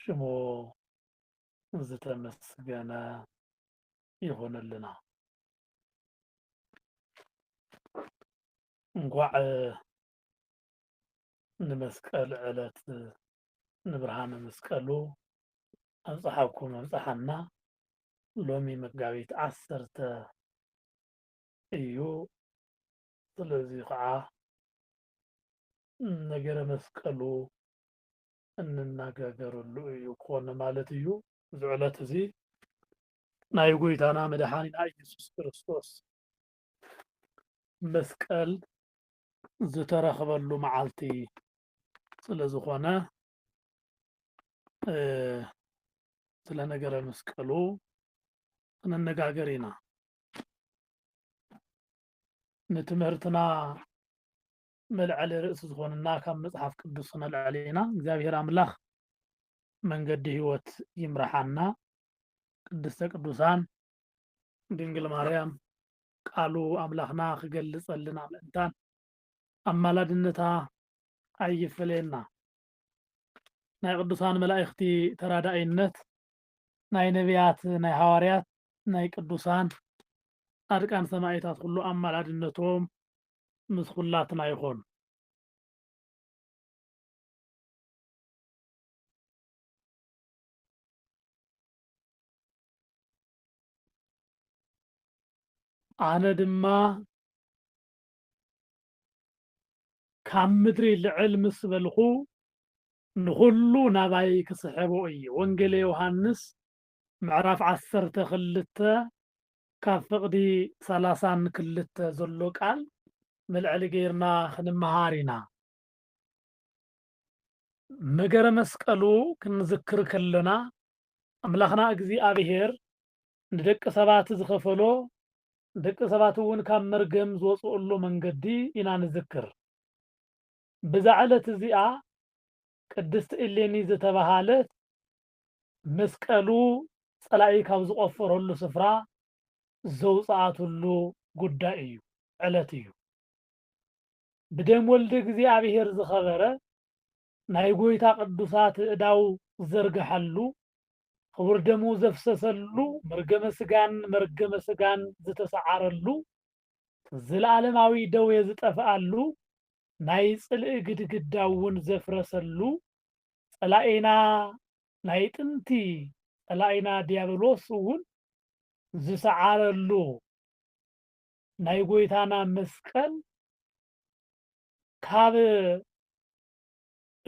ሽሙ ዝተመስገነ ይኹንልና። እንኳዕ ንመስቀል ዕለት ንብርሃነ መስቀሉ ኣብፀሓኩም ኣብፀሓና። ሎሚ መጋቢት ዓሰርተ እዩ። ስለዚ ከዓ ነገረ መስቀሉ እንነጋገረሉ እዩ ክኾን ማለት እዩ። እዚ ዕለት እዚ ናይ ጎይታና መድሓኒና እየሱስ ክርስቶስ መስቀል ዝተረኽበሉ መዓልቲ ስለ ዝኾነ ስለ ነገረ መስቀሉ ክንነጋገር ኢና። ንትምህርትና መልዐሊ ርእሲ ዝኾነና ካብ መጽሓፍ ቅዱስ ክነልዕል ኢና። እግዚኣብሔር ኣምላኽ መንገዲ ሕይወት ይምርሓና። ቅድስተ ቅዱሳን ድንግል ማርያም ቃሉ ኣምላኽና ክገልጸልና ምእንታን ኣማላድነታ ኣይፈለየና። ናይ ቅዱሳን መላእኽቲ ተራዳኢነት ናይ ነቢያት ናይ ሃዋርያት ናይ ቅዱሳን ጻድቃን ሰማዒታት ኩሉ ኣማላድነቶም ምስ ኹላትና ይኹን። ኣነ ድማ ካብ ምድሪ ልዕል ምስ በልኹ ንኹሉ ናባይ ክስሕቦ እየ። ወንጌለ ዮሃንስ ምዕራፍ ዓሰርተ ክልተ ካብ ፍቕዲ ሰላሳን ክልተ ዘሎ ቃል መልዐሊ ገይርና ክንመሃር ኢና። መገረ መስቀሉ ክንዝክር ከሎና ኣምላኽና እግዚኣብሔር ንደቂ ሰባት ዝኸፈሎ ደቂ ሰባት እውን ካብ መርገም ዝወፅኡሉ መንገዲ ኢና ንዝክር። ብዛ ዕለት እዚኣ ቅድስቲ እሌኒ ዝተባሃለት መስቀሉ ጸላኢ ካብ ዝቆፈረሉ ስፍራ ዘውጽኣትሉ ጉዳይ እዩ ዕለት እዩ። ብደም ወልደ እግዚኣብሔር ዝኸበረ ናይ ጎይታ ቅዱሳት እዳው ዝዘርግሐሉ ክቡር ደሙ ዘፍሰሰሉ መርገመ ስጋን መርገመ ስጋን ዝተሰዓረሉ ዘለዓለማዊ ደዌ ዝጠፍኣሉ ናይ ጽልኢ ግድግዳ እውን ዘፍረሰሉ ጸላኢና ናይ ጥንቲ ጸላኢና ድያብሎስ እውን ዝሰዓረሉ ናይ ጎይታና መስቀል ካብ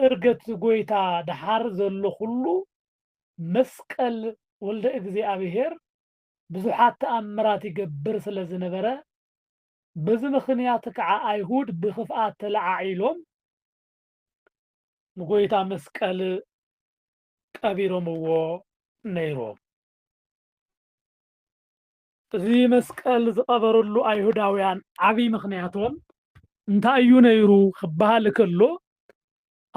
እርገት ጎይታ ደሓር ዘሎ ኩሉ መስቀል ወልደ እግዚኣብሔር ብዙሓት ተኣምራት ይገብር ስለ ዝነበረ በዚ ምኽንያት ከዓ ኣይሁድ ብክፍኣት ተለዓዒሎም ንጎይታ መስቀል ቀቢሮምዎ ነይሮም። እዚ መስቀል ዝቐበርሉ ኣይሁዳውያን ዓብዪ ምኽንያቶም እንታይ እዩ ነይሩ ክበሃል ከሎ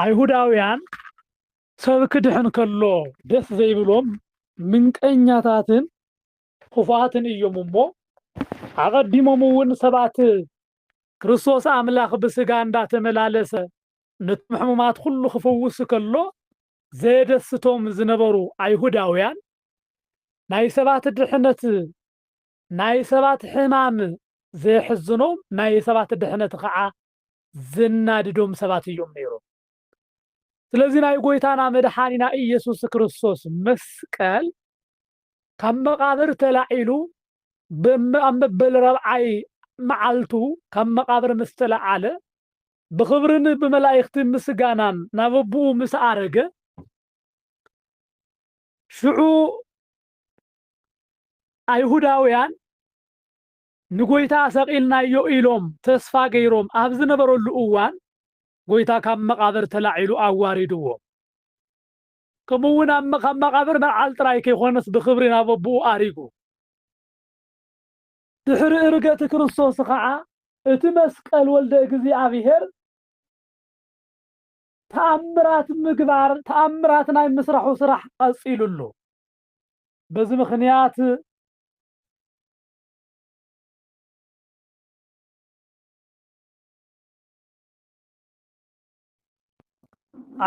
ኣይሁዳውያን ሰብ ክድሕን ከሎ ደስ ዘይብሎም ምንቀኛታትን ኽፉኣትን እዮም እሞ፣ ኣቐዲሞም እውን ሰባት ክርስቶስ ኣምላኽ ብሥጋ እንዳተመላለሰ ነቶም ሕሙማት ኹሉ ኽፍውስ ከሎ ዘየደስቶም ዝነበሩ ኣይሁዳውያን ናይ ሰባት ድሕነት ናይ ሰባት ሕማም ዘየሕዝኖም ናይ ሰባት ድሕነት ኸዓ ዘናድዶም ሰባት እዮም ነይሮም። ስለዚ ናይ ጎይታና መድሓኒና ኢየሱስ ክርስቶስ መስቀል ካብ መቓብር ተላዒሉ ኣብ መበል ረብዓይ መዓልቱ ካብ መቓብር ምስ ተለዓለ ብኽብርን ብመላእኽቲ ምስጋናን ናብ ኣቦኡ ምስ ኣረገ ሽዑ ኣይሁዳውያን ንጎይታ ሰቒልናዮ ኢሎም ተስፋ ገይሮም ኣብ ዝነበረሉ እዋን ጎይታ ካብ መቓብር ተላዒሉ ኣዋሪድዎ። ከምኡ እውን ኣብ ካብ መቓብር ምልዓል ጥራይ ከይኮነስ ብኽብሪ ናብ ኣቦኡ ኣሪጉ። ድሕሪ እርገት ክርስቶስ ኸዓ እቲ መስቀል ወልደ እግዚኣብሔር ተኣምራት ምግባር ተኣምራት ናይ ምስራሑ ስራሕ ቐፂሉ ኣሎ። በዚ ምኽንያት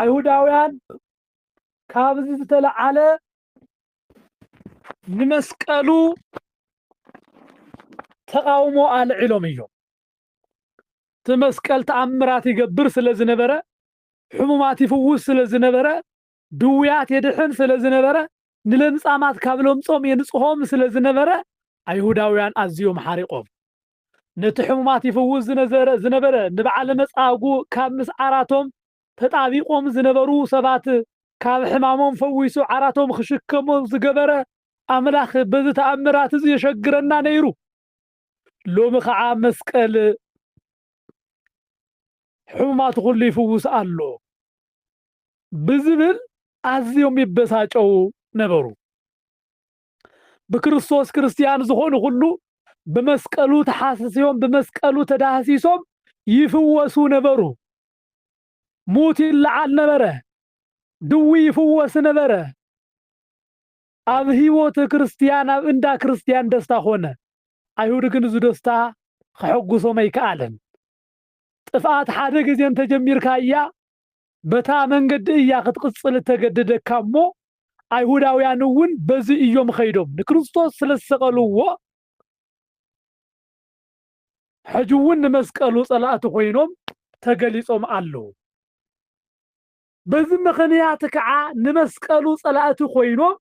ኣይሁዳውያን ካብዚ ዝተለዓለ ንመስቀሉ ተቃውሞ ኣልዒሎም እዮም እቲ መስቀል ተኣምራት ይገብር ስለ ዝነበረ ሕሙማት ይፍውስ ስለ ዝነበረ ድውያት የድሕን ስለ ዝነበረ፣ ንለምጻማት ካብ ለምጾም የንጽሆም ስለ ዝነበረ፣ ኣይሁዳውያን ኣዝዮም ሓሪቖም። ነቲ ሕሙማት ይፍውስ ዝነዘረ ዝነበረ ንብዓለ መጻጉ ካብ ምስ ዓራቶም ተጣቢቆም ዝነበሩ ሰባት ካብ ሕማሞም ፈዊሱ ዓራቶም ክሽከሞ ዝገበረ ኣምላኽ በዚ ተኣምራት እዚ የሸግረና ነይሩ። ሎሚ ከዓ መስቀል ሕሙማት ኩሉ ይፍውስ ኣሎ። ብዝብል ኣዝዮም ይበሳጨዉ ነበሩ። ብክርስቶስ ክርስትያን ዝኾኑ ኩሉ ብመስቀሉ ተሓስስዮም ብመስቀሉ ተዳህሲሶም ይፍወሱ ነበሩ። ሙት ይለዓል ነበረ፣ ድዊ ይፍወስ ነበረ። ኣብ ህይወት ክርስትያን ኣብ እንዳ ክርስትያን ደስታ ኮነ። ኣይሁድ ግን እዚ ደስታ ከሐጉሶም ኣይከኣለን። ጥፍኣት ሓደ ግዜ እንተጀሚርካያ በታ መንገዲ እያ ክትቕጽል እተገደደካ እሞ፣ ኣይሁዳውያን እውን በዚ እዮም ኸይዶም ንክርስቶስ ስለ ዝሰቐልዎ፣ ሕጂ እውን ንመስቀሉ ጸላእቲ ኮይኖም ተገሊጾም ኣለዉ። በዚ ምኽንያት ከዓ ንመስቀሉ ጸላእቲ ኮይኖም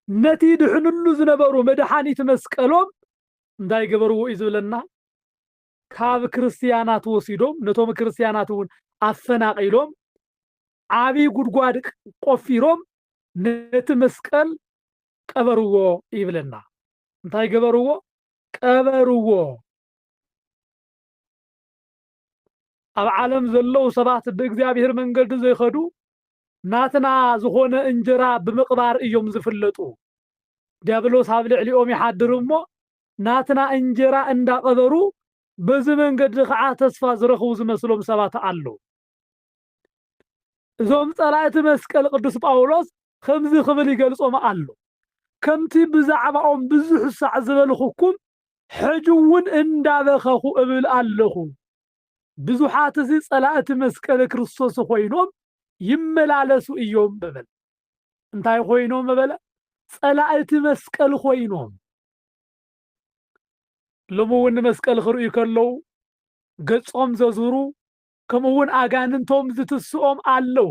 ነቲ ድሕንሉ ዝነበሩ መድሓኒት መስቀሎም እንታይ ገበርዎ እዩ ዝብለና? ካብ ክርስትያናት ወሲዶም ነቶም ክርስትያናት እውን ኣፈናቒሎም ዓብዪ ጉድጓድ ቆፊሮም ነቲ መስቀል ቀበርዎ ይብለና። እንታይ ገበርዎ? ቀበርዎ። ኣብ ዓለም ዘለዉ ሰባት ብእግዚኣብሔር መንገዲ ዘይኸዱ ናትና ዝኾነ እንጀራ ብምቕባር እዮም ዝፍለጡ። ዲያብሎስ ኣብ ልዕሊኦም ይሓድር እሞ ናትና እንጀራ እንዳቐበሩ በዚ መንገዲ ኸዓ ተስፋ ዝረኽቡ ዝመስሎም ሰባት ኣለዉ። እዞም ጸላእቲ መስቀል ቅዱስ ጳውሎስ ኸምዚ ክብል ይገልጾም ኣሎ፣ ከምቲ ብዛዕባኦም ብዙሕ ሳዕ ዝበልኹኩም ሕጂውን እንዳበኸኹ እብል ኣለኹ፣ ብዙሓትሲ ጸላእቲ መስቀል ክርስቶስ ኾይኖም ይመላለሱ እዮም በበለ። እንታይ ኾይኖም በበለ? ጸላእቲ መስቀል ኾይኖም። ሎሚ እውን ንመስቀል ክርእዩ ከለዉ ገጾም ዘዝሩ ከምኡ እውን ኣጋንንቶም ዝትስኦም ኣለዉ።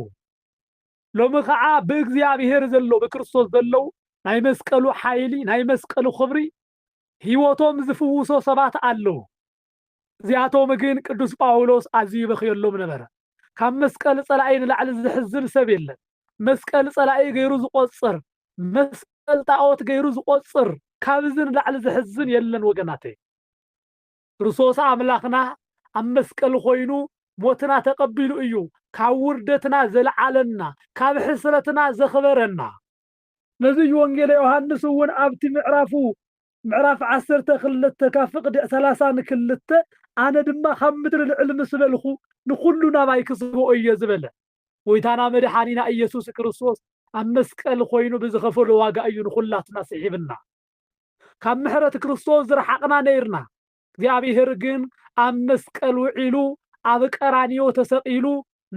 ሎሚ ከዓ ብእግዚኣብሔር ዘለዉ ብክርስቶስ ዘለዉ ናይ መስቀሉ ሓይሊ ናይ መስቀሉ ክብሪ ህይወቶም ዝፍውሶ ሰባት ኣለዉ። እዚኣቶም ግን ቅዱስ ጳውሎስ ኣዝዩ ይበኽየሎም ነበረ። ካብ መስቀል ጸላኢ ንላዕሊ ዘሕዝን ሰብ የለን። መስቀል ጸላኢ ገይሩ ዝቆጽር፣ መስቀል ጣኦት ገይሩ ዝቆጽር ካብዚ ንላዕሊ ዘሕዝን የለን ወገናተይ። ክርስቶስ ኣምላኽና ኣብ መስቀል ኮይኑ ሞትና ተቀቢሉ እዩ ካብ ውርደትና ዘልዓለና፣ ካብ ሕስረትና ዘኽበረና። ነዚ እዩ ወንጌለ ዮሐንስ እውን ኣብቲ ምዕራፉ ምዕራፍ ዓሰርተ ክልተ ካብ ፍቅዲ ሰላሳ ን ክልተ ኣነ ድማ ካብ ምድሪ ልዕል ምስ በልኩ ንኩሉ ናባይ ክስቦኦ እየ ዝበለ ጎይታና መድሓኒና ኢየሱስ ክርስቶስ ኣብ መስቀል ኮይኑ ብዝከፈሎ ዋጋ እዩ ንኩላትና ስሒብና ካብ ምሕረት ክርስቶስ ዝረሓቅና ነይርና እግዚኣብሔር ግን ኣብ መስቀል ውዒሉ ኣብ ቀራንዮ ተሰቒሉ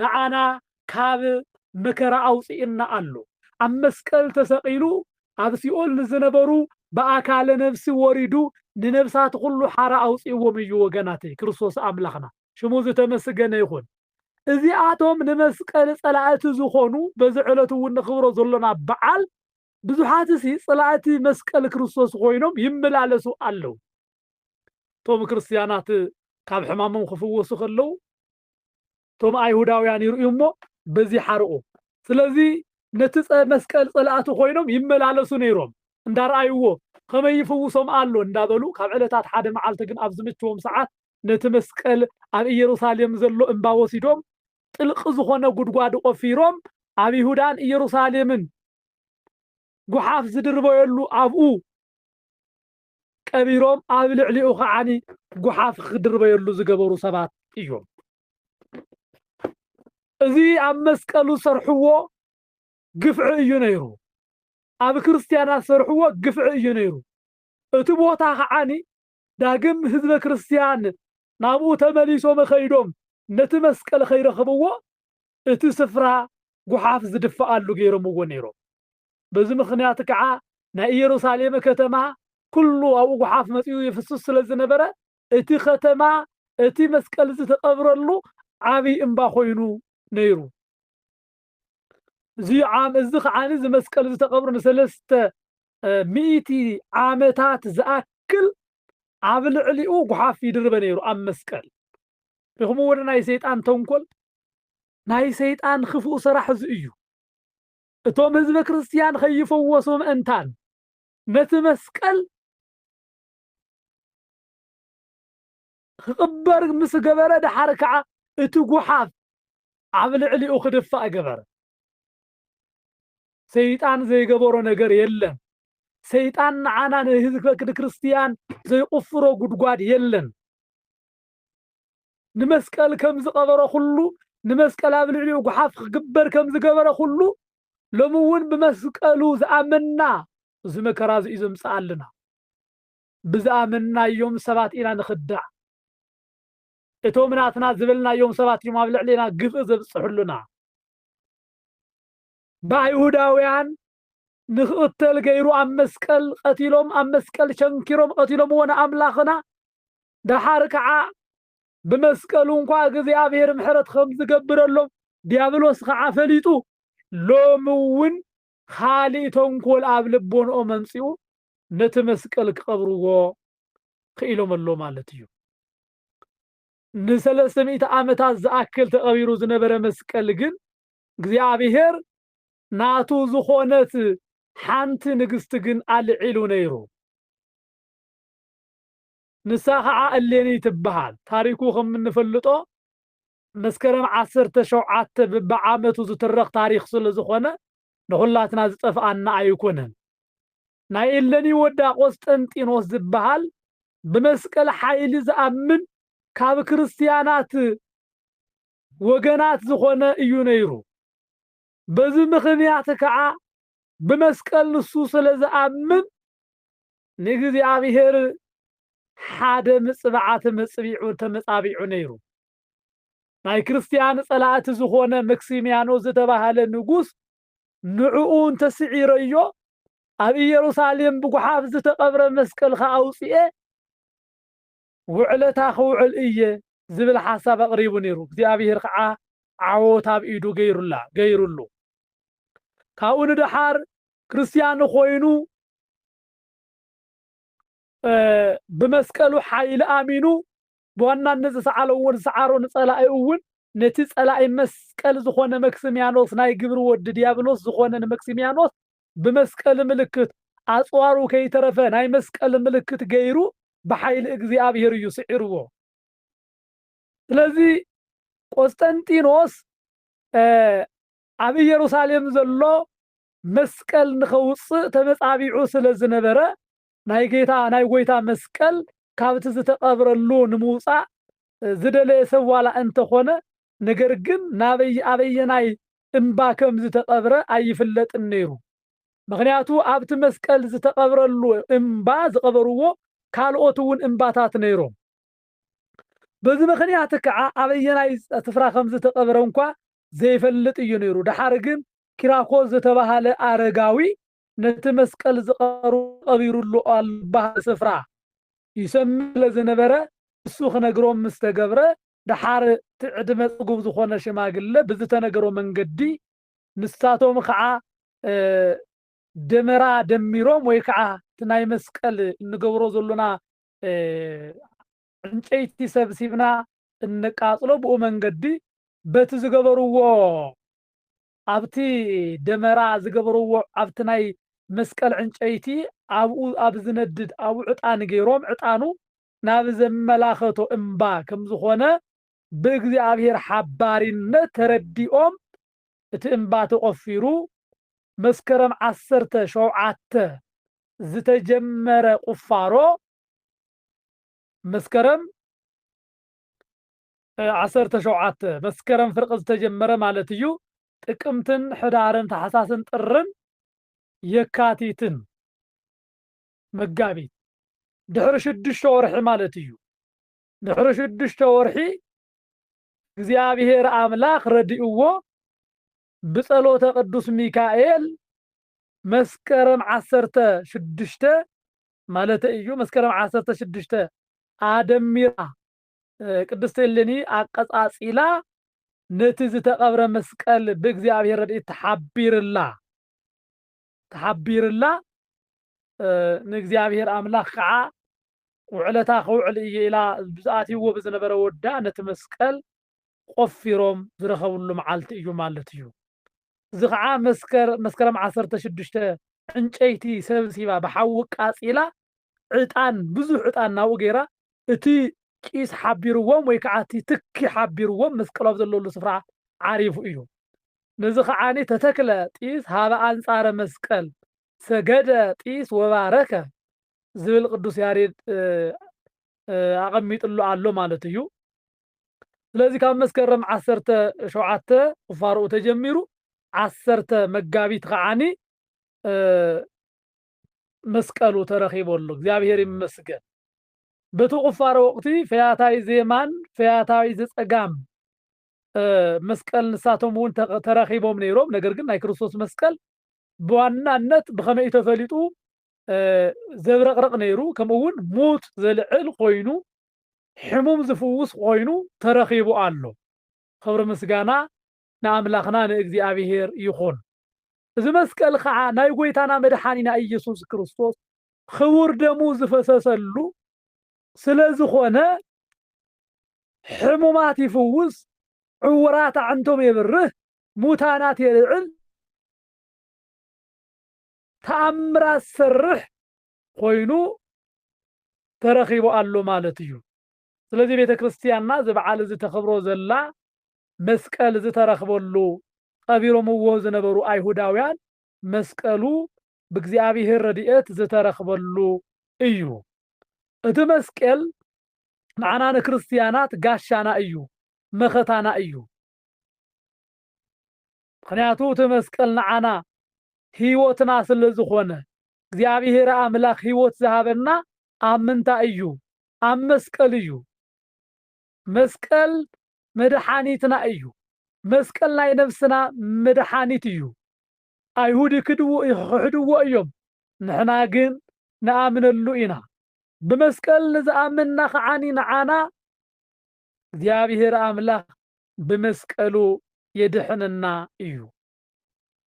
ንዓና ካብ መከራ ኣውፅእና ኣሎ። ኣብ መስቀል ተሰቒሉ ኣብ ሲኦል ንዝነበሩ ብኣካለ ነብሲ ወሪዱ ንነብሳት ኩሉ ሓራ ኣውፅእዎም እዩ ወገናተይ ክርስቶስ ኣምላኽና ሽሙ ዝተመስገነ ይኹን። እዚኣቶም ንመስቀል ጸላእቲ ዝኾኑ በዚ ዕለት እውን ንኽብሮ ዘሎና በዓል ብዙሓትሲ ጸላእቲ መስቀል ክርስቶስ ኮይኖም ይመላለሱ ኣለዉ። እቶም ክርስትያናት ካብ ሕማሞም ክፍወሱ ከለዉ እቶም ኣይሁዳውያን ይርእዩ እሞ በዚ ሓርቑ ስለዚ ነቲ መስቀል ጸላእቲ ኮይኖም ይመላለሱ ነይሮም እንዳረኣይዎ ከመይ ይፍውሶም ኣሎ እንዳበሉ ካብ ዕለታት ሓደ መዓልቲ ግን ኣብ ዝምችዎም ሰዓት ነቲ መስቀል ኣብ ኢየሩሳሌም ዘሎ እምባ ወሲዶም ጥልቂ ዝኾነ ጉድጓድ ቆፊሮም ኣብ ይሁዳን ኢየሩሳሌምን ጉሓፍ ዝድርበየሉ ኣብኡ ቀቢሮም ኣብ ልዕሊኡ ከዓ ጉሓፍ ክድርበየሉ ዝገበሩ ሰባት እዮም። እዚ ኣብ መስቀሉ ዝሰርሕዎ ግፍዒ እዩ ነይሩ። ኣብ ክርስትያናት ዝሰርሕዎ ግፍዒ እዩ ነይሩ። እቲ ቦታ ከዓኒ ዳግም ህዝበ ክርስትያን ናብኡ ተመሊሶም ኸይዶም ነቲ መስቀል ኸይረኽብዎ እቲ ስፍራ ጉሓፍ ዝድፈኣሉ ገይሮምዎ ነይሮም። በዚ ምኽንያት ከኣ ናይ ኢየሩሳሌም ከተማ ኩሉ ኣብኡ ጉሓፍ መጺኡ ይፍስስ ስለ ዝነበረ እቲ ከተማ እቲ መስቀል ዝተቀብረሉ ዓብይ እምባ ኮይኑ ነይሩ። እዚ ዓም እዚ ከዓኒ እዚ መስቀል ዝተቀብሩ ንሰለስተ ሚእቲ ዓመታት ዝኣክል ኣብ ልዕሊኡ ጉሓፍ ይድርበ ነይሩ ኣብ መስቀል ሪኹም ወደ ናይ ሰይጣን ተንኮል ናይ ሰይጣን ክፉእ ሰራሕ እዚ እዩ። እቶም ህዝበ ክርስትያን ኸይፈወሱ ምእንታን ነቲ መስቀል ኽቕበር ምስ ገበረ ደሓር ከዓ እቲ ጕሓፍ ኣብ ልዕሊኡ ክድፋእ ገበረ። ሰይጣን ዘይገበሮ ነገር የለን። ሰይጣን ንዓና ንህዝበ ክርስትያን ዘይቝፍሮ ጕድጓድ የለን። ንመስቀል ከም ዝቐበሮ ኩሉ ንመስቀል ኣብ ልዕሊኡ ጉሓፍ ክግበር ከም ዝገበረ ኩሉ ሎሚ እውን ብመስቀሉ ዝኣመንና እዚ መከራ እዚ እዩ ዘምጽኣልና። ብዝኣመንናዮም ሰባት ኢና ንኽዳዕ። እቶም ናትና ዝበልናዮም ሰባት እዮም ኣብ ልዕሌና ግፍኢ ዘብጽሑልና። ብኣይሁዳውያን ንክቕተል ገይሩ ኣብ መስቀል ቐቲሎም ኣብ መስቀል ቸንኪሮም ቐቲሎምዎ ንኣምላኽና ደሓር ከዓ ብመስቀሉ እንኳ እግዚኣብሔር ምሕረት ከም ዝገብረሎም ዲያብሎስ ከዓ ፈሊጡ ሎሚ እውን ኻሊእ ተንኮል ኣብ ልቦንኦ መምፂኡ ነቲ መስቀል ክቐብርዎ ክኢሎም ኣሎ ማለት እዩ ንሰለስተ ሚእቲ ዓመታት ዝኣክል ተቐቢሩ ዝነበረ መስቀል ግን እግዚኣብሄር ናቱ ዝኾነት ሓንቲ ንግስቲ ግን ኣልዒሉ ነይሩ። ንሳ ኸዓ እሌኒ ትበሃል። ታሪኩ ከም እንፈልጦ መስከረም ዓሰርተ ሸውዓተ ብብዓመቱ ዝትረኽ ታሪኽ ስለ ዝኾነ ንኹላትና ዝጠፍኣና ኣይኮነን። ናይ እሌኒ ወዳ ቆስጠንጢኖስ ዝበሃል ብመስቀል ሓይሊ ዝኣምን ካብ ክርስትያናት ወገናት ዝኾነ እዩ ነይሩ። በዚ ምኽንያት ከኣ ብመስቀል ንሱ ስለ ዝኣምን ንእግዚኣብሔር ሓደ ምጽብዓ ተመጽቢዑ ተመጻቢዑ ነይሩ። ናይ ክርስትያን ጸላእቲ ዝኾነ መክሲምያኖስ ዝተባህለ ንጉስ ንዕኡ እንተስዒረዮ ኣብ ኢየሩሳሌም ብጉሓፍ ዝተቐብረ መስቀልካ ኣውጽኤ ውዕለታ ክውዕል እየ ዝብል ሓሳብ ኣቕሪቡ ነይሩ። እግዚኣብሄር ከዓ ዓወት ኣብ ኢዱ ገይሩላ፣ ገይሩሉ። ካብኡ ንደሓር ክርስትያን ኾይኑ ብመስቀሉ ሓይሊ ኣሚኑ ብዋናነት ዝሰዓለዎ ዝሰዓሮ ንጸላኢ እውን ነቲ ጸላኢ መስቀል ዝኾነ መክስሚያኖስ ናይ ግብሪ ወዲ ዲያብሎስ ዝኾነ ንመክስሚያኖስ ብመስቀል ምልክት ኣጽዋሩ ከይተረፈ ናይ መስቀል ምልክት ገይሩ ብሓይሊ እግዚኣብሔር እዩ ስዒርዎ። ስለዚ ቆስጠንጢኖስ ኣብ ኢየሩሳሌም ዘሎ መስቀል ንኸውፅእ ተመጻቢዑ ስለ ዝነበረ ናይ ጌታ ናይ ጎይታ መስቀል ካብቲ ዝተቐብረሉ ንምውፃእ ዝደለየ ሰብ ዋላ እንተኾነ ነገር ግን ናበይ ኣበየናይ እምባ ከም ዝተቐብረ ኣይፍለጥን ነይሩ። ምኽንያቱ ኣብቲ መስቀል ዝተቐብረሉ እምባ ዝቐበርዎ ካልኦት እውን እምባታት ነይሮም። በዚ ምኽንያት ከዓ ኣበየናይ ስፍራ ከም ዝተቐብረ እንኳ ዘይፈልጥ እዩ ነይሩ። ደሓር ግን ኪራኮስ ዝተባሃለ ኣረጋዊ ነቲ መስቀል ዝቐሩ ቀቢሩሉ ኣሎ ዝበሃል ስፍራ ይሰምዕ ስለ ዝነበረ ንሱ ክነግሮም ምስ ተገብረ ደሓር እቲ ዕድመ ጽጉብ ዝኾነ ሽማግለ ብዝተነገሮ መንገዲ ንሳቶም ኸኣ ደመራ ደሚሮም ወይ ከኣ እቲ ናይ መስቀል እንገብሮ ዘሎና ዕንጨይቲ ሰብሲብና እነቃጽሎ ብኡ መንገዲ በቲ ዝገበርዎ ኣብቲ ደመራ ዝገበርዎ ኣብቲ ናይ መስቀል ዕንጨይቲ ኣብኡ ኣብ ዝነድድ ኣብኡ ዕጣን ገይሮም ዕጣኑ ናብ ዘመላኸቶ እምባ ከም ዝኾነ ብእግዚኣብሔር ሓባሪነት ተረዲኦም እቲ እምባ ተቖፊሩ መስከረም ዓሰርተ ሸውዓተ ዝተጀመረ ቁፋሮ መስከረም ዓሰርተ ሸውዓተ መስከረም ፍርቂ ዝተጀመረ ማለት እዩ ጥቅምትን ሕዳርን ታሕሳስን ጥርን የካቲትን መጋቢት፣ ድሕሪ ሽዱሽተ ወርሒ ማለት እዩ። ድሕሪ ሽዱሽተ ወርሒ እግዚኣብሔር ኣምላኽ ረዲእዎ ብጸሎተ ቅዱስ ሚካኤል መስከረም ዓሰርተ ሽዱሽተ ማለተ እዩ መስከረም ዓሰርተ ሽዱሽተ ኣደሚራ ቅድስት እሌኒ ኣቀጻጺላ ነቲ ዝተቐብረ መስቀል ብእግዚኣብሔር ረድኤት ተሓቢርላ ተሓቢርላ ንእግዚኣብሔር ኣምላኽ ከዓ ውዕለታ ከውዕል እየ ኢላ ብዝኣትይዎ ብዝነበረ ወዳ ነቲ መስቀል ቆፊሮም ዝረኸብሉ መዓልቲ እዩ ማለት እዩ። እዚ ከዓ መስከረም ዓሰርተ ሽዱሽተ ዕንጨይቲ ሰብሲባ ብሓዊ ቃፂላ ዕጣን ብዙሕ ዕጣን ናብኡ ገይራ እቲ ቂስ ሓቢርዎም ወይ ከዓ እቲ ትኪ ሓቢርዎም መስቀል ኣብ ዘለሉ ስፍራ ዓሪፉ እዩ። ነዚ ከዓኒ ተተክለ ጢስ ኀበ ኣንጻረ መስቀል ሰገደ ጢስ ወባረከ ዝብል ቅዱስ ያሬድ ኣቐሚጥሉ ኣሎ ማለት እዩ። ስለዚ ካብ መስከረም ዓሰርተ ሸውዓተ ቁፋሮኡ ተጀሚሩ ዓሰርተ መጋቢት ከዓኒ መስቀሉ ተረኺቡ ኣሎ። እግዚኣብሔር ይመስገን። በቲ ቁፋሮ ወቅቲ ፈያታይ ዜማን ፈያታዊ ዘጸጋም መስቀል ንሳቶም እውን ተራኺቦም ነይሮም። ነገር ግን ናይ ክርስቶስ መስቀል ብዋናነት ብኸመይ እዩ ተፈሊጡ ዘብረቕረቕ ነይሩ፣ ከምኡ እውን ሙት ዘልዕል ኮይኑ ሕሙም ዝፍውስ ኮይኑ ተረኺቡ ኣሎ። ክብሪ ምስጋና ንኣምላኽና ንእግዚኣብሔር ይኹን። እዚ መስቀል ከዓ ናይ ጎይታና መድሓኒና ኢየሱስ ክርስቶስ ክቡር ደሙ ዝፈሰሰሉ ስለዝኾነ ሕሙማት ይፍውስ፣ ዕውራት ኣዕንቶም የብርህ፣ ሙታናት የልዕል፣ ተኣምራት ዝሰርሕ ኮይኑ ተረኺቡ ኣሎ ማለት እዩ። ስለዚ ቤተ ክርስቲያንና እዚ በዓል እዚ ተኽብሮ ዘላ መስቀል ዝተረኽበሉ፣ ቐቢሮምዎ ዝነበሩ ኣይሁዳውያን መስቀሉ ብእግዚኣብሔር ረድኤት ዝተረኽበሉ እዩ። እቲ መስቄል ንዓና ንክርስትያናት ጋሻና እዩ፣ መኸታና እዩ። ምክንያቱ እቲ መስቀል ንዓና ሕይወትና ስለ ዝኾነ እግዚኣብሔር ኣምላኽ ሕይወት ዝሃበና ኣብ ምንታይ እዩ? ኣብ መስቀል እዩ። መስቀል መድሓኒትና እዩ። መስቀል ናይ ነፍስና መድሓኒት እዩ። ኣይሁድ ይክድዎ ይኽሕድዎ እዮም ንሕና ግን ንኣምነሉ ኢና ብመስቀል ንዝኣመንና ከዓኒ ንዓና እግዚኣብሔር ኣምላኽ ብመስቀሉ የድሕነና እዩ።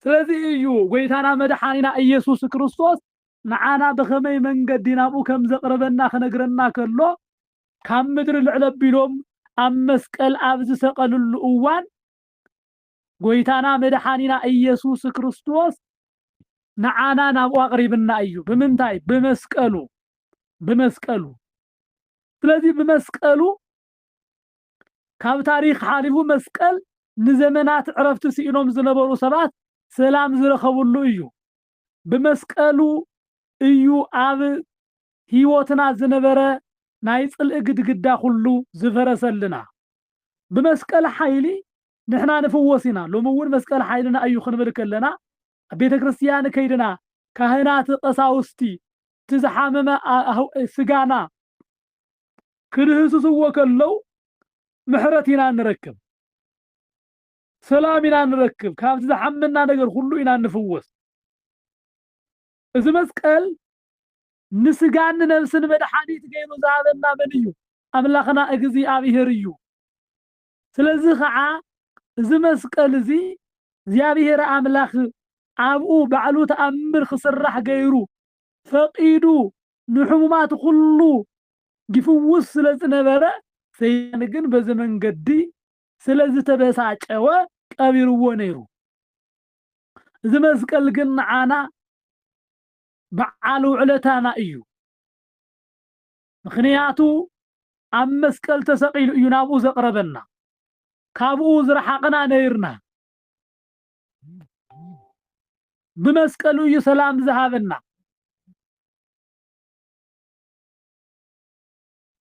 ስለዚ እዩ ጎይታና መድሓኒና እየሱስ ክርስቶስ ንዓና ብኸመይ መንገዲ ናብኡ ከምዘቅርበና ክነግረና ከሎ ካብ ምድሪ ልዕል ኣቢሎም ኣብ መስቀል ኣብ ዝሰቀልሉ እዋን ጎይታና መድሓኒና እየሱስ ክርስቶስ ንዓና ናብኡ ኣቕሪብና እዩ ብምንታይ ብመስቀሉ ብመስቀሉ ስለዚ ብመስቀሉ ካብ ታሪኽ ሓሊፉ መስቀል ንዘመናት ዕረፍቲ ስኢኖም ዝነበሩ ሰባት ሰላም ዝረኸብሉ እዩ ብመስቀሉ እዩ ኣብ ህይወትና ዝነበረ ናይ ጽልኢ ግድግዳ ኩሉ ዝፈረሰልና ብመስቀል ሓይሊ ንሕና ንፍወስ ኢና ሎሚ እውን መስቀል ሓይልና እዩ ክንብል ከለና ኣብ ቤተ ክርስትያን ከይድና ካህናት ቐሳውስቲ እቲ ዝሓመመ ስጋና ክድህስስዎ ከለው ምሕረት ኢና ንረክብ ሰላም ኢና ንረክብ ካብቲ ዝሓመና ነገር ኩሉ ኢና ንፍወስ እዚ መስቀል ንስጋን ንነብስን መድሓኒት ገይሩ ዝሃበና መን እዩ ኣምላኽና እግዚኣብሄር እዩ ስለዚ ኸዓ እዚ መስቀል እዚ እግዚኣብሄር ኣምላኽ ኣብኡ ባዕሉ ተኣምር ክስራሕ ገይሩ ፈቒዱ ንሕሙማት ኹሉ ይፍውስ ስለ ዝነበረ ሰይጣን ግን በዚ መንገዲ ስለ ዝተበሳጨወ ቀቢርዎ ነይሩ። እዚ መስቀል ግን ንዓና በዓል ውዕለታና እዩ። ምኽንያቱ ኣብ መስቀል ተሰቒሉ እዩ ናብኡ ዘቕረበና፣ ካብኡ ዝረሓቕና ነይርና። ብመስቀሉ እዩ ሰላም ዝሃበና።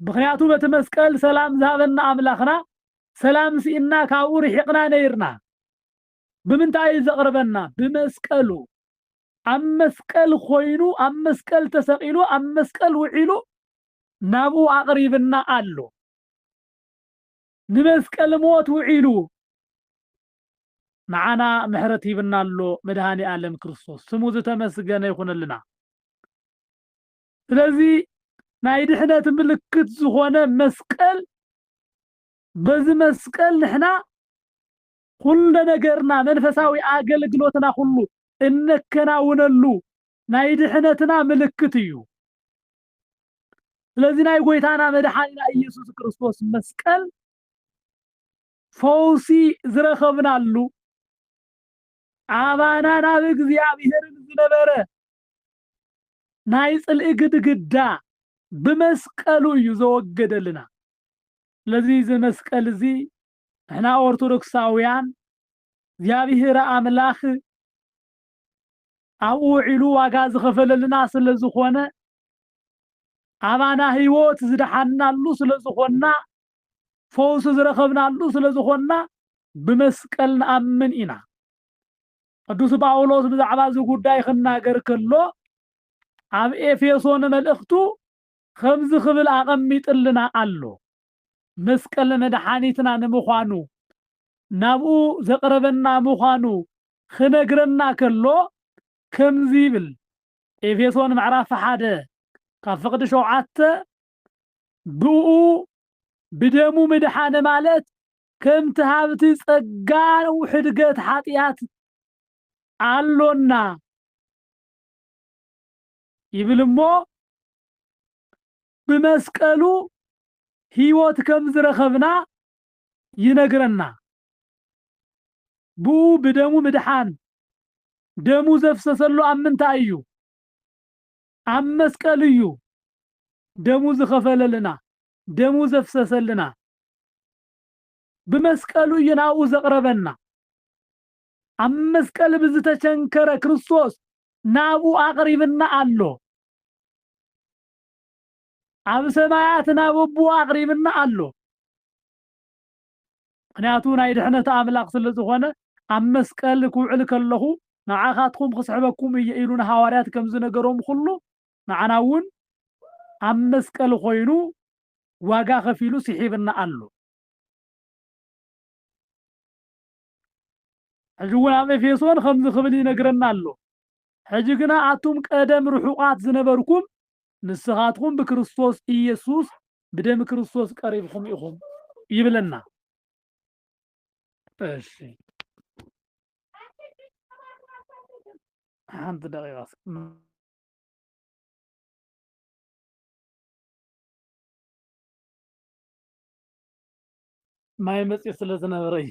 ምኽንያቱ በቲ መስቀል ሰላም ዝሃበና ኣምላኽና ሰላም ስኢንና ካብኡ ርሒቕና ነይርና። ብምንታይ እዩ ዘቕርበና? ብመስቀሉ። ኣብ መስቀል ኾይኑ ኣብ መስቀል ተሰቂሉ ኣብ መስቀል ውዒሉ ናብኡ ኣቕሪብና ኣሎ። ንመስቀል ሞት ውዒሉ ንዓና ምሕረት ሂብና ኣሎ መድሃኒ ኣለም ክርስቶስ ስሙ ዝተመስገነ ይኹነልና። ስለዚ ናይ ድሕነት ምልክት ዝኾነ መስቀል በዚ መስቀል ንሕና ኩሉ ነገርና መንፈሳዊ ኣገልግሎትና ኩሉ እነከናውነሉ ናይ ድሕነትና ምልክት እዩ። ስለዚ ናይ ጎይታና መድሓኒና ኢየሱስ ክርስቶስ መስቀል ፈውሲ ዝረኸብናሉ ኣባና ናብ እግዚኣብሔርን ዝነበረ ናይ ጽልኢ ግድግዳ ብመስቀሉ እዩ ዘወገደልና። ስለዚ እዚ መስቀል እዚ ንሕና ኦርቶዶክሳውያን እግዚኣብሔር ኣምላክ ኣብኡ ውዒሉ ዋጋ ዝኸፈለልና ስለ ዝኾነ ኣባና ህይወት ዝደሓንናሉ ስለ ዝኾንና ፈውሲ ዝረኸብናሉ ስለ ዝኾንና ብመስቀል ንኣምን ኢና ቅዱስ ጳውሎስ ብዛዕባ እዚ ጉዳይ ክናገር ከሎ ኣብ ኤፌሶን መልእኽቱ ከምዚ ክብል ኣቐሚጥልና ኣሎ መስቀል መድሓኒትና ንምዃኑ ናብኡ ዘቕረበና ምዃኑ ኽነግረና ከሎ ከምዚ ይብል ኤፌሶን ምዕራፍ ሓደ ካብ ፍቕዲ ሸውዓተ ብእኡ ብደሙ ምድሓነ ማለት ከምቲ ሃብቲ ጸጋ ሕድገት ሓጢኣት ኣሎና ይብል እሞ ብመስቀሉ ሕይወት ከም ዝረኸብና ይነግረና። ብኡ ብደሙ ምድሓን ደሙ ዘፍሰሰሉ ኣብ ምንታይ እዩ? ኣብ መስቀል እዩ ደሙ ዝኸፈለልና ደሙ ዘፍሰሰልና። ብመስቀሉ እዩ ናብኡ ዘቕረበና። ኣብ መስቀል ብዝተቸንከረ ክርስቶስ ናብኡ ኣቕሪብና ኣሎ። ኣብ ሰማያት ናብ ኣቦ ኣቕሪብና ኣሎ። ምክንያቱ ናይ ድሕነት ኣምላኽ ስለ ዝኾነ ኣብ መስቀል ክውዕል ከለኹ ንዓኻትኩም ክስሕበኩም እየ ኢሉ ንሃዋርያት ከም ዝነገሮም ኩሉ ንዓና እውን ኣብ መስቀል ኮይኑ ዋጋ ከፊሉ ስሒብና ኣሎ። ሕጂ እውን ኣብ ኤፌሶን ከምዚ ክብል ይነግረና ኣሎ። ሕጂ ግና ኣቱም ቀደም ርሑቓት ዝነበርኩም፣ ንስኻትኩም ብክርስቶስ ኢየሱስ፣ ብደም ክርስቶስ ቀሪብኹም ኢኹም። ይብለና። እሺ ሓንቲ ደቂቃ ማይ መፅዩ ስለ ዝነበረ እዩ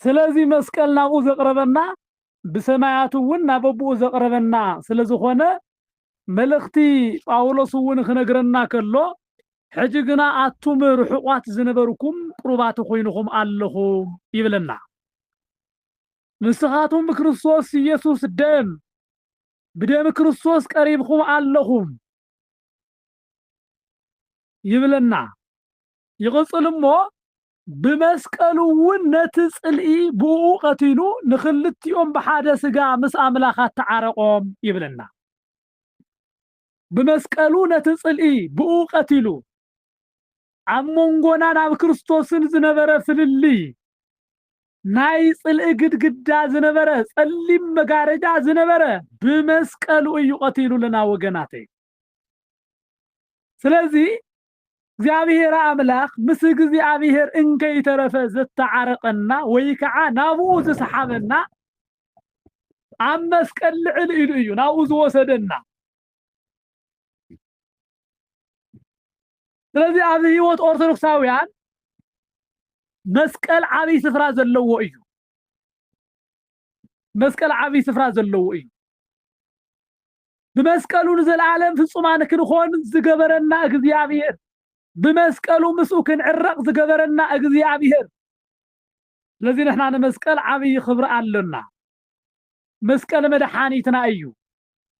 ስለዚ መስቀል ናብኡ ዘቕረበና ብሰማያት እውን ናብ ኣቦኡ ዘቕረበና ስለ ዝኾነ መልእኽቲ ጳውሎስ እውን ክነግረና ከሎ ሕጂ ግና ኣቱም ርሑቋት ዝነበርኩም ቅሩባት ኮይንኹም ኣለኹም ይብለና ንስኻቱም ብክርስቶስ ኢየሱስ ደም ብደም ክርስቶስ ቀሪብኩም ኣለኹም ይብለና ይቕጽል እሞ ብመስቀሉ እውን ነቲ ጽልኢ ብእኡ ቀቲሉ ንክልቲኦም ብሓደ ስጋ ምስ ኣምላኽ ኣተዓረቆም ይብለና ብመስቀሉ ነቲ ጽልኢ ብእኡ ቀቲሉ ኣብ መንጎናን ኣብ ክርስቶስን ዝነበረ ፍልልይ ናይ ጽልኢ ግድግዳ ዝነበረ ጸሊም መጋረጃ ዝነበረ ብመስቀሉ እዩ ቀቲሉልና ወገናተይ ስለዚህ እግዚኣብሔር ኣምላኽ ምስ እግዚኣብሔር እንከይተረፈ ዘተዓረቀና ወይ ከዓ ናብኡ ዝሰሓበና ኣብ መስቀል ልዕል ኢሉ እዩ ናብኡ ዝወሰደና ስለዚ ኣብ ህይወት ኦርቶዶክሳውያን መስቀል ዓብይ ስፍራ ዘለዎ እዩ መስቀል ዓብይ ስፍራ ዘለዎ እዩ። ብመስቀሉ ንዘለዓለም ፍጹማን ክንኾን ዝገበረና እግዚኣብሔር፣ ብመስቀሉ ምስኡ ክንዕረቕ ዝገበረና እግዚኣብሔር። ስለዚህ ንሕና ንመስቀል ዓብይ ክብሪ ኣሎና። መስቀል መድሓኒትና እዩ።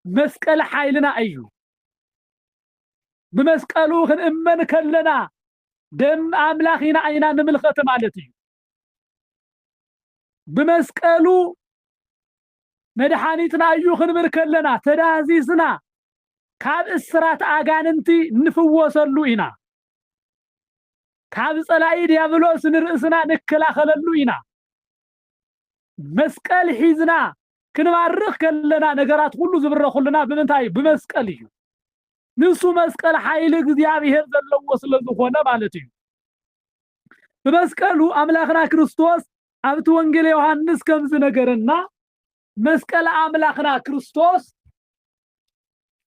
መስቀል ሓይልና እዩ። ብመስቀሉ ክንእመን ከለና ደም ኣምላኽ ኢና ኢና ንምልኸት ማለት እዩ። ብመስቀሉ መድሓኒትና እዩ ክንብል ከለና ተዳህዚዝና ካብ እስራት ኣጋንንቲ እንፍወሰሉ ኢና። ካብ ጸላኢ ዲያብሎስ ንርእስና ንከላኸለሉ ኢና። መስቀል ሒዝና ክንባርኽ ከለና ነገራት ኩሉ ዝብረኹልና ብምንታይ እዩ? ብመስቀል እዩ። ንሱ መስቀል ሓይሊ እግዚኣብሔር ዘለዎ ስለ ዝኾነ ማለት እዩ። ብመስቀሉ ኣምላኽና ክርስቶስ ኣብቲ ወንጌል ዮሐንስ ከም ዝነገረና መስቀል ኣምላኽና ክርስቶስ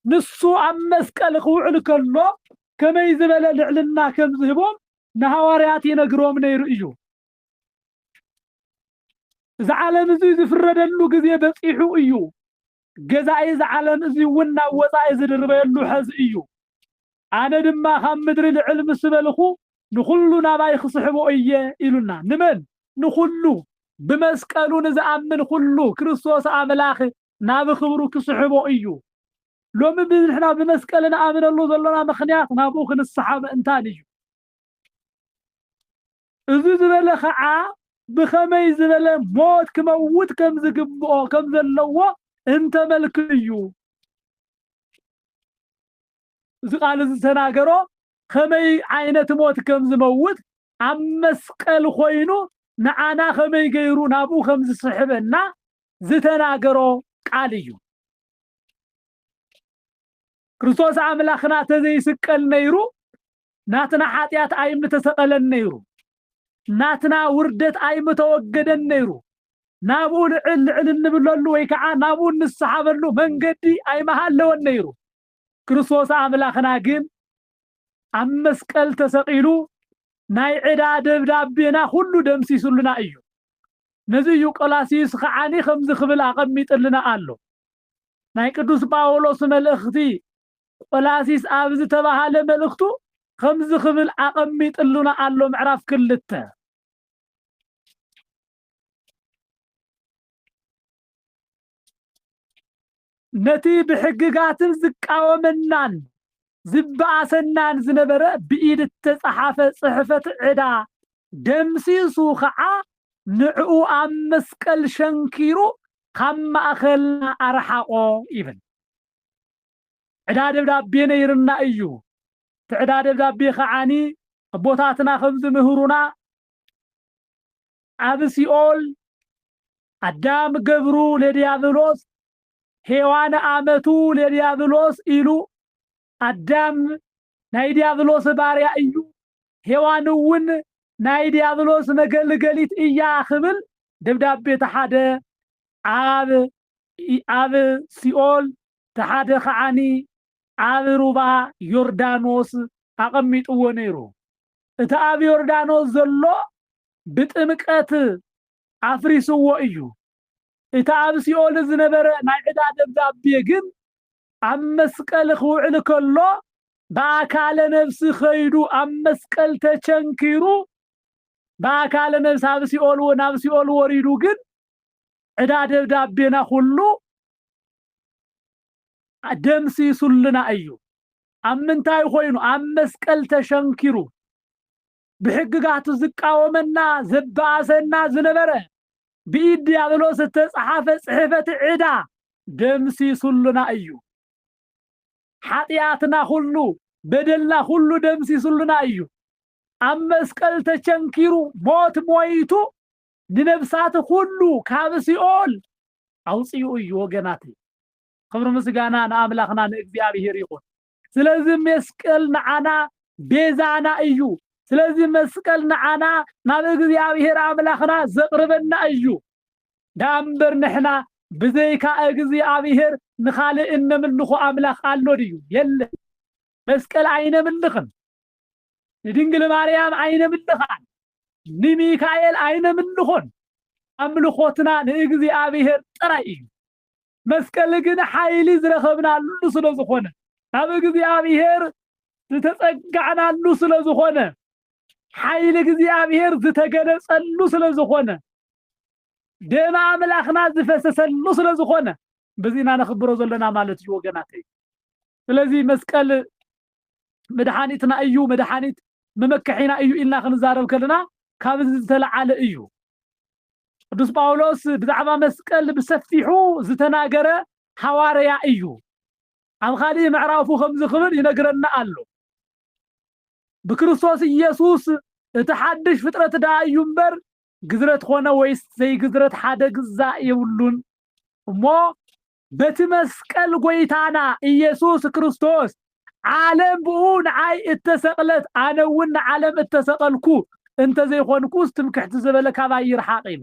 ንሱ ኣብ መስቀል ክውዕል ከሎ ከመይ ዝበለ ልዕልና ከም ዝህቦም ንሃዋርያት ይነግሮም ነይሩ እዩ። እዚ ዓለም እዚ ዝፍረደሉ ግዜ በጺሑ እዩ። ገዛኢ እዚ ዓለም እዚ እውን ናብ ወጻኢ ዝድርበየሉ ሐዚ እዩ። ኣነ ድማ ካብ ምድሪ ልዕል ምስ በልኹ ንኹሉ ናባይ ክስሕቦ እየ ኢሉና። ንመን? ንኹሉ። ብመስቀሉ ንዝኣምን ኹሉ ክርስቶስ ኣምላኽ ናብ ኽብሩ ክስሕቦ እዩ። ሎሚ ብዝሕና ብመስቀል ንኣምነሉ ዘሎና ምኽንያት ናብኡ ክንስሓብ ምእንታን እዩ። እዚ ዝበለ ከኣ ብኸመይ ዝበለ ሞት ክመውት ከም ዝግብኦ ከም ዘለዎ እንተመልክት እዩ። እዚ ቃል እዚ ዝተናገሮ ከመይ ዓይነት ሞት ከም ዝመውት ኣብ መስቀል ኮይኑ ንዓና ከመይ ገይሩ ናብኡ ከም ዝስሕበና ዝተናገሮ ቃል እዩ። ክርስቶስ ኣምላኽና ተዘይስቀል ነይሩ ናትና ሓጢኣት ኣይምተሰቐለን ነይሩ፣ ናትና ውርደት ኣይምተወገደን ነይሩ፣ ናብኡ ልዕል ልዕል እንብለሉ ወይ ከዓ ናብኡ እንሰሓበሉ መንገዲ ኣይመሃለወን ነይሩ። ክርስቶስ ኣምላኽና ግን ኣብ መስቀል ተሰቒሉ ናይ ዕዳ ደብዳቤና ኩሉ ደምሲሱልና እዩ። ነዚ እዩ ቆላሲዩስ ከዓኒ ከምዚ ክብል ኣቐሚጥልና ኣሎ። ናይ ቅዱስ ጳውሎስ መልእኽቲ ቈላሲስ ኣብ ዝተባህለ መልእኽቱ ከምዚ ክብል ኣቐሚጥሉና ኣሎ ምዕራፍ ክልተ ነቲ ብሕግጋትን ዝቃወመናን ዝባኣሰናን ዝነበረ ብኢድ እተጻሓፈ ጽሕፈት ዕዳ ደምሲሱ ከኣ ንዕኡ ኣብ መስቀል ሸንኪሩ ካብ ማእከልና ኣርሓቆ ይብል። ዕዳ ደብዳቤ ነይርና እዩ። እቲ ዕዳ ደብዳቤ ከዓኒ ኣቦታትና ከም ዝምህሩና ኣብ ሲኦል ኣዳም ገብሩ ለዲያብሎስ ሔዋን ኣመቱ ለዲያብሎስ ኢሉ፣ ኣዳም ናይ ዲያብሎስ ባርያ እዩ፣ ሔዋን እውን ናይ ዲያብሎስ መገልገሊት እያ ክብል ደብዳቤ ተሓደ ኣብ ኣብ ሲኦል ተሓደ ከዓኒ ኣብ ሩባ ዮርዳኖስ ኣቐሚጥዎ ነይሩ። እቲ ኣብ ዮርዳኖስ ዘሎ ብጥምቀት ኣፍሪስዎ እዩ። እቲ ኣብ ሲኦል ዝነበረ ናይ ዕዳ ደብዳቤ ግን ኣብ መስቀል ክውዕል ከሎ ብኣካለ ነብሲ ከይዱ ኣብ መስቀል ተቸንኪሩ ብኣካለ ነብሲ ኣብ ሲኦል ናብ ሲኦል ወሪዱ ግን ዕዳ ደብዳቤና ኩሉ ደምሲሱልና እዩ። ኣብ ምንታይ ኮይኑ ኣብ መስቀል ተሸንኪሩ ብሕግጋቱ ዝቃወመና ዘባኣሰና ዝነበረ ብኢድ ዲያብሎስ እተጻሓፈ ጽሕፈት ዕዳ ደምሲሱሉና እዩ። ሓጥያትና ኩሉ በደልና ኩሉ ደምሲሱሉና እዩ። ኣብ መስቀል ተቸንኪሩ ሞት ሞይቱ ንነብሳት ኩሉ ካብ ሲኦል ኣውጺኡ እዩ ወገናተይ። ክብሪ ምስጋና ንኣምላኽና ንእግዚኣብሔር ይኹን። ስለዚ መስቀል ንዓና ቤዛና እዩ። ስለዚ መስቀል ንዓና ናብ እግዚኣብሔር ኣምላኽና ዘቕርበና እዩ። ደኣ እምበር ንሕና ብዘይካ እግዚኣብሔር ንኻልእ እነምልኾ ኣምላኽ ኣሎ ድዩ? የለን። መስቀል ኣይነምልኽን፣ ንድንግል ማርያም ኣይነምልኻን፣ ንሚካኤል ኣይነምልኾን። ኣምልኾትና ንእግዚኣብሔር ጥራይ እዩ። መስቀል ግን ሓይሊ ዝረኸብናሉ ስለ ዝኾነ ካብ እግዚኣብሔር ዝተጸጋዕናሉ ስለ ዝኾነ ሓይሊ እግዚኣብሔር ዝተገለጸሉ ስለ ዝኾነ ደም ኣምላኽና ዝፈሰሰሉ ስለ ዝኾነ በዚና ነኽብሮ ዘለና ማለት እዩ ወገናተይ። ስለዚ መስቀል መድሓኒትና እዩ መድሓኒት መመከሒና እዩ ኢልና ክንዛረብ ከለና ካብ እዚ ዝተለዓለ እዩ ቅዱስ ጳውሎስ ብዛዕባ መስቀል ብሰፊሑ ዝተናገረ ሓዋርያ እዩ ኣብ ካልእ ምዕራፉ ከምዚ ክብል ይነግረና ኣሎ ብክርስቶስ ኢየሱስ እቲ ሓድሽ ፍጥረት ደኣ እዩ እምበር ግዝረት ኮነ ወይስ ዘይግዝረት ሓደ ግዛ የብሉን እሞ በቲ መስቀል ጎይታና ኢየሱስ ክርስቶስ ዓለም ብኡ ንዓይ እተሰቕለት ኣነ እውን ንዓለም እተሰቐልኩ እንተዘይኮንኩስ ትምክሕቲ ዝበለ ካባይ ይርሓቕ ኢሉ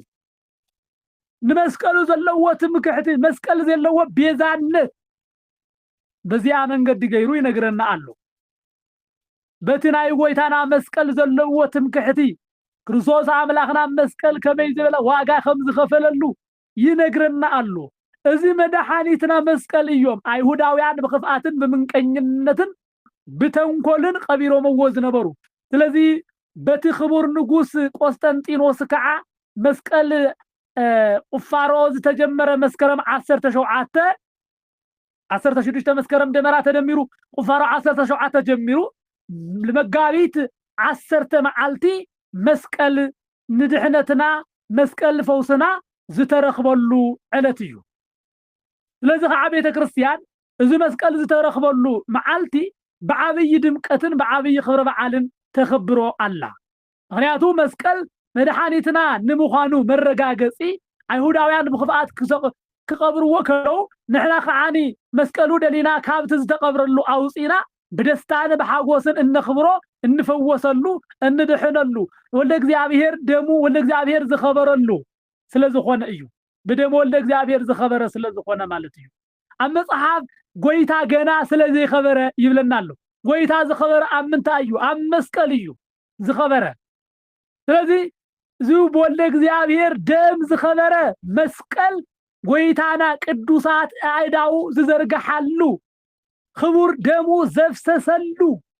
ንመስቀሉ ዘለዎ ትምክሕቲ መስቀል ዘለዎ ቤዛነት በዚኣ መንገዲ ገይሩ ይነግረና ኣሎ በቲ ናይ ጎይታና መስቀል ዘለዎ ትምክሕቲ ክርስቶስ ኣምላኽና መስቀል ከመይ ዝበለ ዋጋ ከም ዝኸፈለሉ ይነግረና ኣሎ እዚ መዳሓኒትና መስቀል እዮም ኣይሁዳውያን ብክፍኣትን ብምንቀኝነትን ብተንኮልን ቀቢሮምዎ ዝነበሩ ስለዚ በቲ ክቡር ንጉስ ቆስጠንጢኖስ ክዓ መስቀል ቁፋሮ ዝተጀመረ መስከረም ዓሰርተ ሸውዓተ ዓሰርተ ሽዱሽተ መስከረም ደመራ ተደሚሩ ቁፋሮ ዓሰርተ ሸውዓተ ጀሚሩ መጋቢት ዓሰርተ መዓልቲ መስቀል ንድሕነትና መስቀል ፈውስና ዝተረኽበሉ ዕለት እዩ ስለዚ ከዓ ቤተ ክርስቲያን እዚ መስቀል ዝተረኽበሉ መዓልቲ ብዓብዪ ድምቀትን ብዓብዪ ክብረ በዓልን ተኽብሮ ኣላ ምኽንያቱ መስቀል መድሓኒትና ንምዃኑ መረጋገጺ ኣይሁዳውያን ብኽፍኣት ክቐብርዎ ከለዉ ንሕና ከኣ መስቀሉ ደሊና ካብቲ ዝተቐብረሉ ኣውጺእና ብደስታን ብሓጎስን እነኽብሮ እንፈወሰሉ እንድሕነሉ ወልደ እግዚኣብሔር ደሙ ወልደ እግዚኣብሔር ዝኸበረሉ ስለዝኾነ እዩ ብደም ወልደ እግዚኣብሔር ዝኸበረ ስለዝኾነ ማለት እዩ። ኣብ መጽሓፍ ጎይታ ገና ስለ ዘይከበረ ይብለና ኣሎ። ጎይታ ዝከበረ ኣብ ምንታይ እዩ? ኣብ መስቀል እዩ ዝከበረ። ስለዚ እዚ ብወልደ እግዚኣብሔር ደም ዝከበረ መስቀል ጎይታና ቅዱሳት ኣእዳዉ ዝዘርግሓሉ ክቡር ደሙ ዘፍሰሰሉ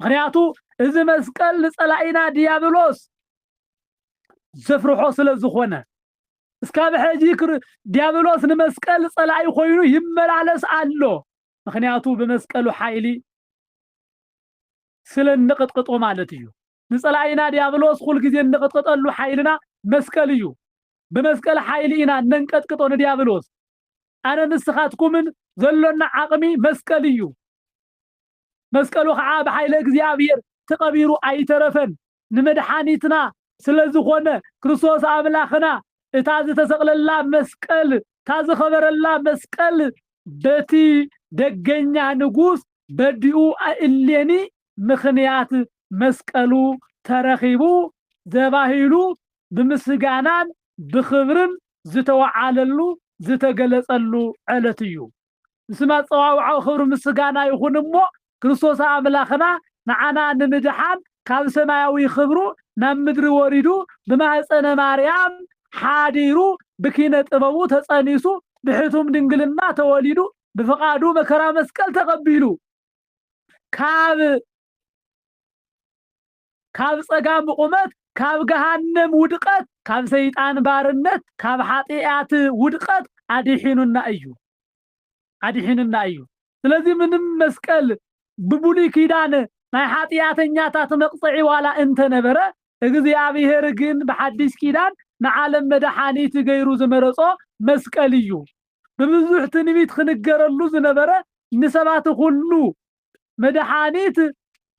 ምክንያቱ እዚ መስቀል ንጸላኢና ዲያብሎስ ዘፍርሖ ስለ ዝኾነ እስካብ ሕጂ ዲያብሎስ ንመስቀል ጸላኢ ኮይኑ ይመላለስ ኣሎ። ምክንያቱ ብመስቀሉ ሓይሊ ስለ እንቕጥቅጦ ማለት እዩ። ንጸላኢና ዲያብሎስ ኩል ግዜ እንቕጥቅጠሉ ሓይልና መስቀል እዩ። ብመስቀል ሓይሊ ኢና እነንቀጥቅጦ ንዲያብሎስ። ኣነ ንስኻትኩምን ዘሎና ዓቕሚ መስቀል እዩ። መስቀሉ ኸዓ ብሓይለ እግዚኣብሔር ተቐቢሩ ኣይተረፈን ንመድሓኒትና ስለዝኾነ ክርስቶስ ኣምላኽና እታ ዝተሰቕለላ መስቀል እታ ዝኸበረላ መስቀል በቲ ደገኛ ንጉስ በዲኡ እሌኒ ምኽንያት መስቀሉ ተረኺቡ ዘባሂሉ ብምስጋናን ብኽብርን ዝተወዓለሉ ዝተገለጸሉ ዕለት እዩ። ምስም ኣጸዋውዓኡ ክብሪ ምስጋና ይኹን እሞ ክርስቶስ ኣምላኽና ንዓና ንምድሓን ካብ ሰማያዊ ክብሩ ናብ ምድሪ ወሪዱ ብማህጸነ ማርያም ሓዲሩ ብኪነ ጥበቡ ተጸኒሱ ብሕቱም ድንግልና ተወሊዱ ብፍቓዱ መከራ መስቀል ተቐቢሉ ካብ ካብ ጸጋም ብቑመት ካብ ገሃነም ውድቐት ካብ ሰይጣን ባርነት ካብ ሓጥያት ውድቐት ኣዲሒኑና እዩ ኣዲሒኑና እዩ ስለዚ ምንም መስቀል ብብሉይ ኪዳን ናይ ሓጥያተኛታት መቕጸዒ ዋላ እንተነበረ እግዚኣብሔር ግን ብሓዲስ ኪዳን ንዓለም መድሓኒት ገይሩ ዝመረጾ መስቀል እዩ ብብዙሕ ትንቢት ክንገረሉ ዝነበረ ንሰባት ኹሉ መድሓኒት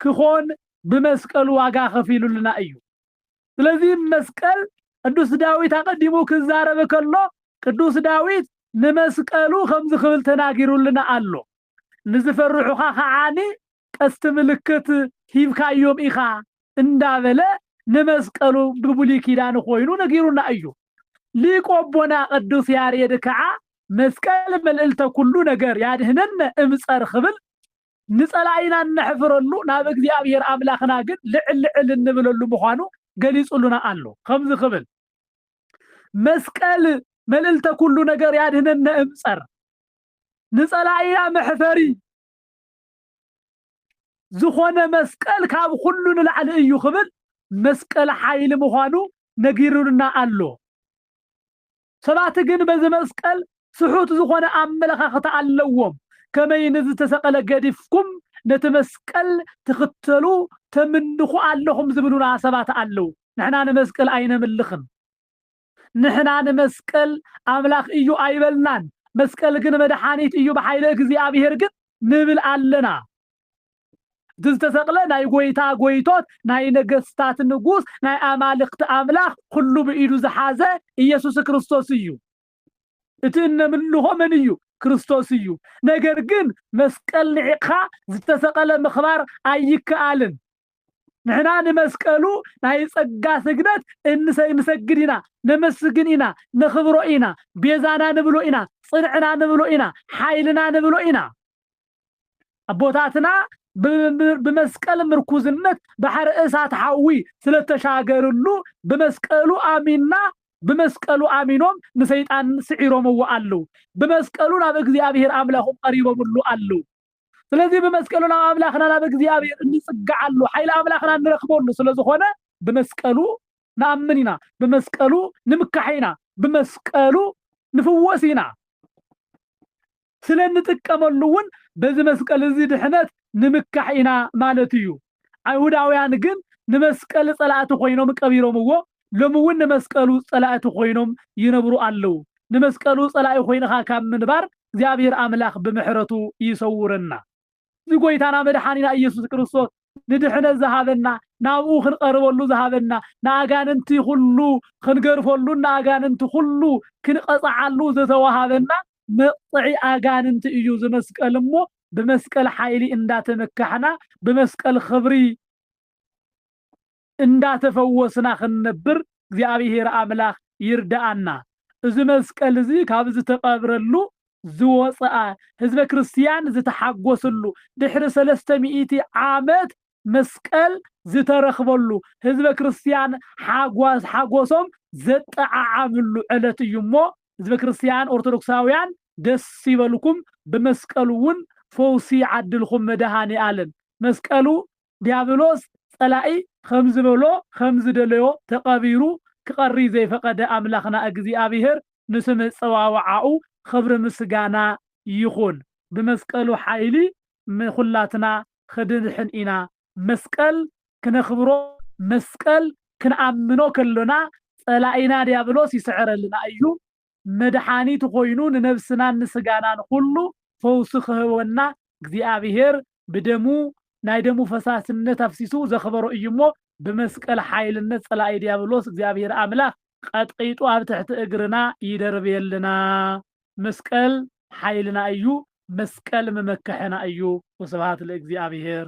ክኾን ብመስቀሉ ዋጋ ከፊሉልና እዩ። ስለዚ መስቀል ቅዱስ ዳዊት ኣቐዲሙ ክዛረብ ከሎ ቅዱስ ዳዊት ንመስቀሉ ከምዚ ክብል ተናጊሩልና ኣሎ ንዝፈርሑኻ ከዓኒ ቀስቲ ምልክት ሂብካዮም ኢኻ እንዳበለ ንመስቀሉ ብብሉይ ኪዳን ኾይኑ ነጊሩና እዩ። ሊቁ ኣቦና ቅዱስ ያሬድ ከዓ መስቀል መልእልተ ኩሉ ነገር ያድኅነነ እምጸር ክብል ንጸላኢና እነሕፍረሉ ናብ እግዚኣብሔር ኣምላኽና ግን ልዕል ልዕል እንብለሉ ምዃኑ ገሊጹልና ኣሎ። ከምዚ ክብል መስቀል መልእልተ ኩሉ ነገር ያድኅነነ እምጸር ንጸላኢና መሕፈሪ ዝኾነ መስቀል ካብ ኹሉ ንላዕሊ እዩ ክብል መስቀል ሓይሊ ምዃኑ ነጊሩና ኣሎ። ሰባት ግን በዚ መስቀል ስሑት ዝኾነ ኣመለኻኽታ ኣለዎም። ከመይ ንዝተሰቐለ ገዲፍኩም ነቲ መስቀል ትኽተሉ ተምንኹ ኣለኹም ዝብሉና ሰባት ኣለዉ። ንሕና ንመስቀል ኣይነምልኽን። ንሕና ንመስቀል ኣምላኽ እዩ ኣይበልናን መስቀል ግን መድሓኒት እዩ ብሓይለ እግዚኣብሔር ግን ንብል ኣለና እቲ ዝተሰቅለ ናይ ጎይታ ጎይቶት ናይ ነገስታት ንጉስ ናይ ኣማልክቲ ኣምላኽ ኩሉ ብኢዱ ዝሓዘ ኢየሱስ ክርስቶስ እዩ እቲ እነምልኾ መን እዩ ክርስቶስ እዩ ነገር ግን መስቀል ንዒቕኻ ዝተሰቐለ ምኽባር ኣይከኣልን ንሕና ንመስቀሉ ናይ ጸጋ ስግደት እንሰ ንሰግድ ኢና፣ ነመስግን ኢና፣ ነኽብሮ ኢና፣ ቤዛና ንብሎ ኢና፣ ጽንዕና ንብሎ ኢና፣ ሓይልና ንብሎ ኢና። ኣቦታትና ብመስቀል ምርኩዝነት ባሕሪ እሳት ሓዊ ስለተሻገርሉ ብመስቀሉ ኣሚና ብመስቀሉ ኣሚኖም ንሰይጣን ስዒሮምዎ ኣሉ። ብመስቀሉ ናብ እግዚኣብሔር ኣምላኹም ቀሪቦምሉ ኣሉ። ስለዚህ ብመስቀሉ ናብ ኣምላኽና ናብ እግዚኣብሔር እንጽግዓሉ ሓይሊ ኣምላኽና እንረክበሉ ስለዝኾነ ብመስቀሉ ንኣምን ኢና ብመስቀሉ ንምካሕ ኢና ብመስቀሉ ንፍወስ ኢና ስለ እንጥቀመሉ እውን በዚ መስቀል እዚ ድሕነት ንምካሕ ኢና ማለት እዩ ኣይሁዳውያን ግን ንመስቀል ጸላእቲ ኮይኖም ቀቢሮምዎ ሎሚ ውን ንመስቀሉ ጸላእቲ ኮይኖም ይነብሩ ኣለው ንመስቀሉ ጸላኢ ኮይንኻ ካብ ምንባር እግዚኣብሔር ኣምላክ ብምሕረቱ ይሰውረና እዚ ጎይታና መድሓኒና እየሱስ ክርስቶስ ንድሕነት ዝሃበና ናብኡ ክንቐርበሉ ዝሃበና ንኣጋንንቲ ኩሉ ክንገርፈሉን ንኣጋንንቲ ኩሉ ክንቐጽዓሉ ዝተዋሃበና መቕጽዒ ኣጋንንቲ እዩ ዝመስቀል እሞ ብመስቀል ሓይሊ እንዳተመካሕና ብመስቀል ኽብሪ እንዳተፈወስና ክንነብር እግዚኣብሔር ኣምላኽ ይርድኣና። እዚ መስቀል እዚ ካብ ዝተቐብረሉ ዝወፅኣ ህዝበ ክርስቲያን ዝተሓጎስሉ ድሕሪ ሰለስተ ሚእቲ ዓመት መስቀል ዝተረኽበሉ፣ ህዝበ ክርስቲያን ሓጓስ ሓጎሶም ዘጠዓዓምሉ ዕለት እዩ እሞ ህዝበ ክርስቲያን ኦርቶዶክሳውያን ደስ ይበልኩም ብመስቀሉ እውን ፈውሲ ይዓድልኹም መድኃኔዓለም መስቀሉ ዲያብሎስ ጸላኢ ኸምዝበሎ ኸምዝደለዮ ተቐቢሩ ክቐሪ ዘይፈቐደ ኣምላኽና እግዚኣብሔር ንስም ኣጸዋውዓኡ ኽብሪ ምስጋና ይኹን ብመስቀሉ ሓይሊ ንኩላትና ኽድንሕን ኢና መስቀል ክነክብሮ መስቀል ክንኣምኖ ከሎና ጸላኢና ድያብሎስ ይስዕረልና እዩ መድሓኒት ኾይኑ ንነብስናን ንስጋናን ኹሉ ፈውሲ ኽህበና እግዚኣብሔር ብደሙ ናይ ደሙ ፈሳስነት ኣፍሲሱ ዘክበሮ እዩ እሞ ብመስቀል ሓይልነት ጸላኢ ድያብሎስ እግዚኣብሔር ኣምላክ ቐጥቂጡ ኣብ ትሕቲ እግርና ይደርብየልና መስቀል ሓይልና እዩ መስቀል መመከሕና እዩ ወስብሃት ለእግዚኣብሔር።